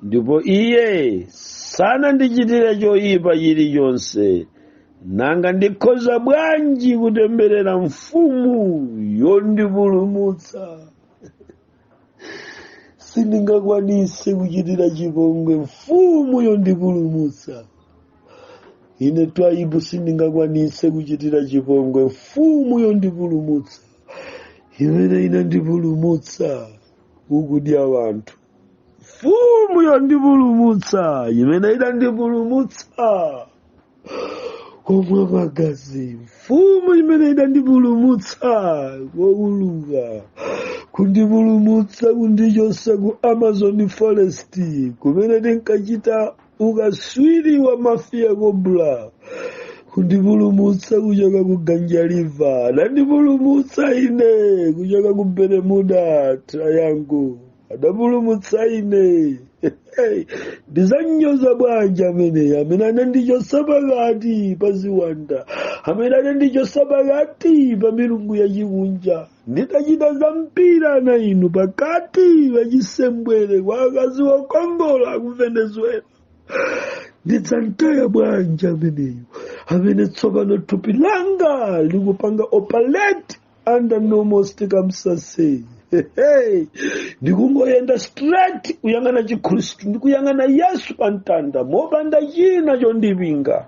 ndipo iye sanandichitire choyipa chilichonse nanga ndikhoza bwanji kutemberera mfumu yondipulumutsa sindingakwanise kuchitira chipongwe mfumu yondipulumutsa ine twaibu sindingakwanise kuchitira chipongwe mfumu yondipulumutsa imene inandipulumutsa kukudya wanthu mfumu yondipulumutsa imene idandipulumutsa komwa magazi mfumu imene idandipulumutsa kouluka kundipulumutsa kundichotsa ku amazon forest kumene tinkachita ukaswiri wa mafiya kobula kundipulumutsa kuchoka ku ganja river adandipulumutsa ine kuchoka ku bermuda triangle adapulumutsa ine ndizanyoza bwanji amene amene anandichosa pakati pa ziwanda amene anandichosa pakati pa milungu yachikunja ndidachita za mpira na inu pakati pa chisembwere kwa akazi wokongola ku venezuela ndidzamtaya bwanji ameneyo amene tsopano thupi langa likupanga operate under normal circumstances Hehe. ndikungoyenda straight kuyang'ana chikhristu ndikuyang'ana yesu pa mtanda mopanda china chondipinga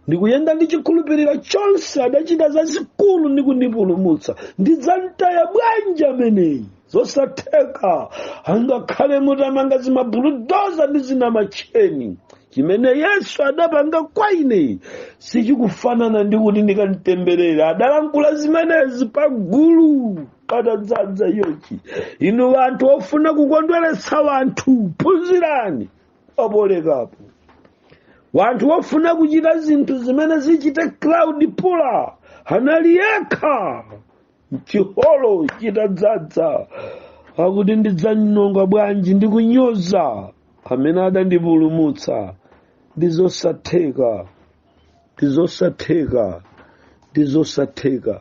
ndikuyenda ndi chikhulupiriro chonse adachita zazikulu ndi kundipulumutsa ndidzamtaya bwanji ameneyi zosatheka angakhale mutamanga zimabuludoza ndi zina matcheni chimene yesu adapanga kwa ine sichikufanana ndi kuti ndikamtemberera adalankhula zimenezi pa gulu patadzadza yochi inu wanthu ofuna kukondweretsa wanthu phunzirani pa polekapo wanthu wofuna kuchita zinthu zimene zichite crowd puller anali yekha m'chiholo chitadzadza akuti ndidzanyonga bwanji ndi kunyoza amene adandipulumutsa ndi zosatheka ndi zosatheka ndi zosatheka